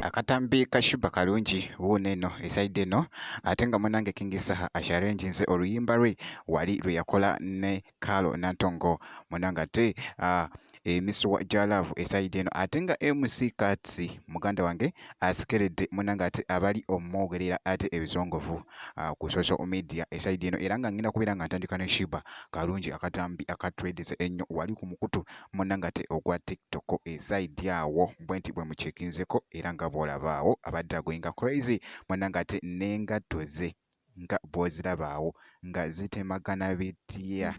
akatambi kashiba kalungi wuuno eno esaidi eno ate nga munange kingi saha asharenji nze oluyimba lwe wali lwe yakola ne kalo nantongo munange ate uh, emisuwa gya laavu esayidi eno ate nga mc kats muganda wange asikeredde munange ate abali omwogerera ate ebisongovu ah, ku social media esaidi eno era nga ngenda kubeera nga ntandika ne shiba kalungi akatambi akatredese ennyo wali ku mukutu munange ate ogwa tiktok esaidi awo bwe nti bwe mukyekinzeko era nga bwolabaawo abadde agoyinga crazy munange ate nengatto ze nga bw'oziraba awo nga zitemagana bitya.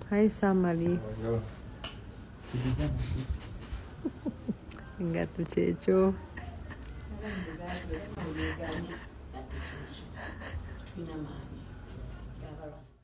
Hi, Samali. Engatto kyekyo. Engatto kyekyo.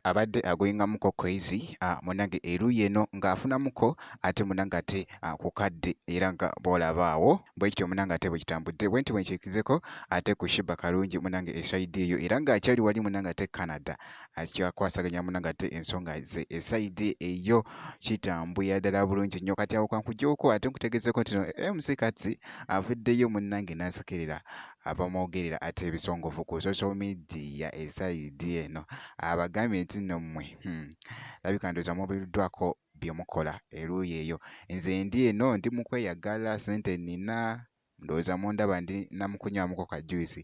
abadde agoyingamuko crazy ah, munange eruuyi eno ng'afunamuko ate munange ate ah, ku kadde era nga bw'olabaawo bwe kityo munange ate bwe kitambudde bwe nti bwe nkyekizeko ate ku shiba kalungi munange esayidi eyo era ng'akyali wali munange ate canada akyakwasaganya munange ate ensonga ze esayidi eyo kitambulira ddala bulungi nnyo kati awo kankujewoko ate nkutegezeeko ntino mc kati avuddeyo munange n'asekerera abamwogerera ate ebisongovu ku social media esaidi eno abagambye nti nno mmwe hmm, labika ndowooza mubiruddwako bye mukola eruuyi eyo nze ndi eno ndi mu kweyagala sente nina ndowooza mundaba ndi namukunywamuko ka juice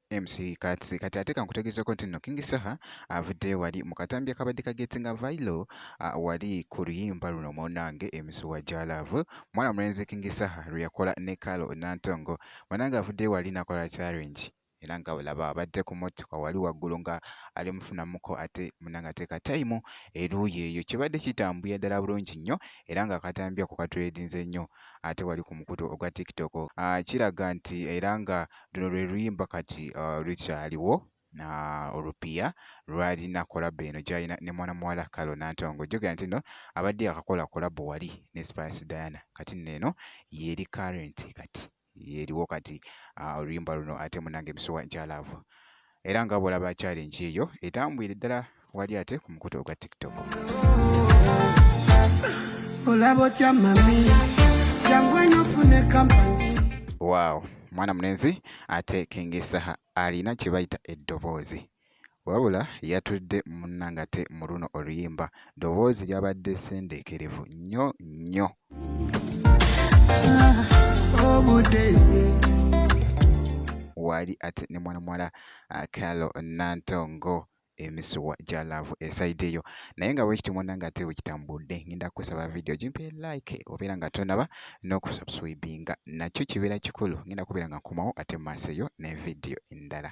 MC Kats kati ate kankutegeezeko nti nno King Saha avudde wali mu katambi akabadde kagetinga vailo wali ku luyimba luno munange emisuwa gya laavu mwana mulenzi King Saha lwe yakola ne Kalo Nantongo munange avudde wali nakola challenge era nga olaba abadde ku mmotoka wali waggulu nga ali mufunamuko ate munange ateeka tayimu eruuyi eyo kibadde kitambuya ddala bulungi nnyo era nga akatambi ako katuleedinze nnyo ate wali ku mukutu ogwa tiktok ah, kiraga nti era nga luno lwe luyimba kati uh, lukyaliwo na olupiya lwalina kolabo eno gyalina ne mwana muwala kalo nantongo jogera nti no abadde yakakola kolabo wali ne spice diana kati nno eno yeri current kati yeriwo kati uh, oluyimba luno ate munange emisuwa nkyalaavu era nga bwolaba challenge eyo etambwire ddala wali ate ku mukutu ogwa tiktok olaba otya mami jangu eno ofune kampani waawo mwana mulenzi ate kengesaha alina kye bayita eddoboozi wabula yatudde munnangate mu luno oluyimba ddoboozi lyabadde sendeekerevu nnyo nnyo waali ate ne mwana muwala ah, Carol Nantongo emisuwa gya laavu esayidi eyo naye nga bwekiti mwana nga ate bwekitambudde ngenda kukusaba vidiyo gimpe like obeera nga tonaba n'okusubscribinga nakyo kibeera kikulu ngenda kubeera nga nkomawo ate mu maaso eyo ne vidiyo endala